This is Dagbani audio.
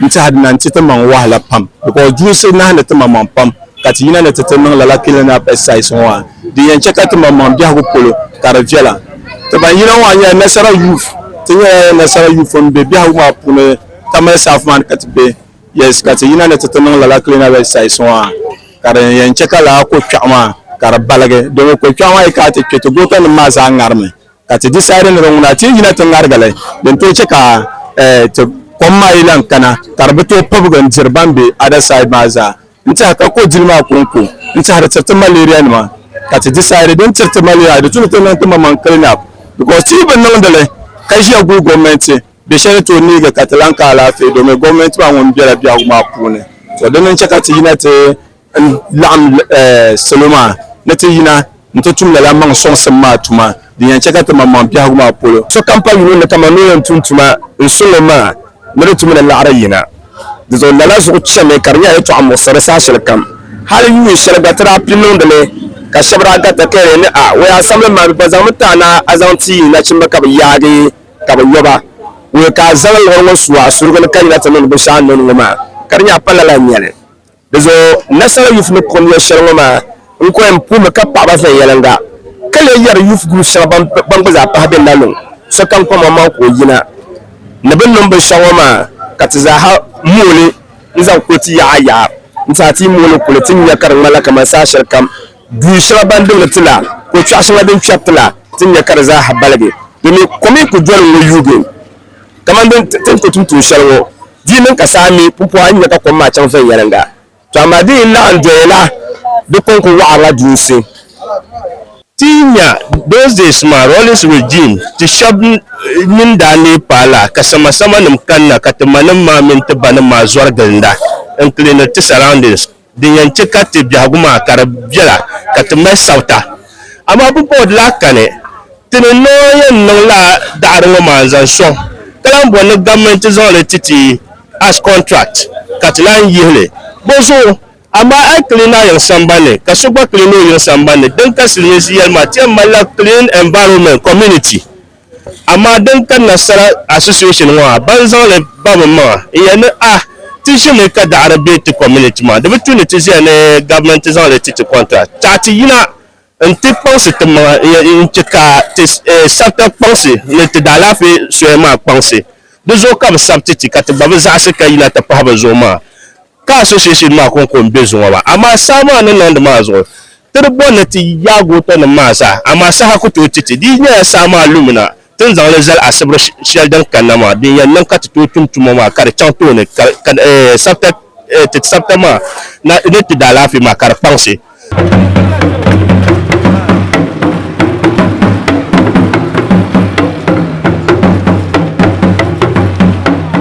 N tɛhidina nti ti maŋ wahala pam, because duusi nahi ni ti maŋmaŋ pam ka ti yina ni ti ti niŋ lala cleaning up exercise ŋɔ maa. Di yɛn chɛ ka ti maŋmaŋ biɛhigu polo ka di viɛla. Ti ban yina maa nyɛla Nasara Youth. Ti nyɛla Nasara Youth m-be biɛhigu maa puuni Tamale South maa ni ka ti be. Yes, ka ti yina ni ti ti niŋ lala cleaning up exercise ŋɔ maa ka din yɛn chɛ ka lala ko kpɛɣu maa ka di baligi. Dama ko kpɛɣu maa yi kana ti kpe ti goota nim maa zaa ŋarimi. ka ti disaidi ni di ŋuna ti yina ti ŋarigali din tooi chɛ ka ti kom maa yi lan kana ka di bi tooi pibigi n-diri ban be other side maa zaa n-tɛha ka ko dili maa kɔŋko n-tɛha di tiriti malarianima ka ti disaidi din tiriti malaria di tuni ti niŋ timaŋmaŋ clean-up because ti yi bi niŋdi li ka ʒiya guli gɔmɛnti bɛ shɛli ni tooi neegi ka ti lan ka alaafee domin gɔmɛnti maa ŋun bela biɛhigu maa puuni so dini n-chɛ ka ti yina ti n laɣim salo maa ni ti yina nti tum lala maŋ sɔŋsim maa tuma din yɛn chɛ ka ti maŋmaŋ biɛhigu maa polo. Sokam pa yino ni kaman ni o yɛn tum tuma n su li maa ni di tumi ni laɣiri yina. Di zuɣu lala zuɣu chɛmi ka di nyɛla yɛtɔɣa muɣisiri saha shɛli kam. Hal yuun shɛli gba ti daa pi niŋdi li ka shɛba daa ga takayuya ni, A! Wei a samli maa bɛ pa zaŋmi ti a ni a zaŋ ti yi nachimba ka bɛ yaagi ka bɛ yɔba. Wei ka a zaŋ liɣiri ŋɔ su a surugu ni ka yina ti niŋdi binshɛɣu a ni niŋdi ŋɔ maa ka di nyɛ a pa lala nyɛli. Di zuɣu Nasara Youth ni kom ya shɛli ŋɔ maa n ko yɛn puhimi ka paɣaba viɛnyɛliŋga ka lee yɛri youth group shɛŋa ban gba zaa pahi bɛ na niŋ sokam kom ŋɔ maŋ ka o yina ni bɛ niŋ binshɛɣu ŋɔ maa ka ti zaaha mooi n zaŋ kuli ti yaɣa yaɣa n tiɛha ti yi mooi li kuli ti ni nya ka di ŋmanila kamani saha shɛli kam duun shɛŋa ban dimdi ti la ko kpɛɣu shɛŋa din kpɛri ti la ti ni nya ka di zaaha baligi domin kom n kuli doli n ŋɔ yuugi kamani din ti ni ko tum tuun shɛli ŋɔ. Di niŋ ka saa mi pumpɔha n-nya ka kom maa chaŋ viɛnyɛliŋga, tɔ amaa di yi laɣim doya la, di kɔŋko waɣirila duunsi. Ti yi nya those days maa Rawlings regime, ti shɛb nyin daa neei paai la ka samasamanim kanna ka ti manim maa mini ti banim maa zɔri gilinda n-cleaniri ti surroundings. Din yɛn chɛ ka ti biɛhigu maa ka di bela ka ti mali sabita. Amaa bɛ bɔhid laa ka ni ti ni Nɔɔn yɛn niŋ laa daɣiri ŋɔ maa n-zaŋ sɔŋ ka lan bɔri ni gomnanti zaŋ li ti ti as contract ka ti lan yihi li bɔ zuɣu. Amaa a yi clean a yiŋ sambani ni ka so gba clean o yiŋ sambani ni, din ka Silimiinsi yɛli maa, ti yɛn mali la clean environment, community. Amaa din kanna sara association ŋɔ a ban zaŋli babi m maŋa n yɛli ni a ti ʒimi ka daɣiri be ti community maa di bi tu ni ti ʒiya ni government zaŋli ti ti contract taɣi ti yina n ti kpaŋsi ti maŋa n yɛli n che ka ti sabita kpaŋsi ni ti daalaafee soya maa kpaŋsi di zuɣu ka bi sabiti ti ka ti gba bi zaɣisi ka yina ti pahi bɛ zuɣu maa. Ka association maa konko n be zuŋɔ maa, amaa saha maa ni niŋdi maa zuɣu ti di bɔri ni ti yaag o tɔnim maa zaa, amaa saha ku tooi ti ti. Di yi nyɛla saha maa lumina, ti ni zaŋli zali asibiri shɛli din kanna maa, din yɛn niŋ ka ti tooi tum tuma maa ka di chaŋ tooni ka ti sabita maa na ni ti daalaafee maa ka di kpaŋsi.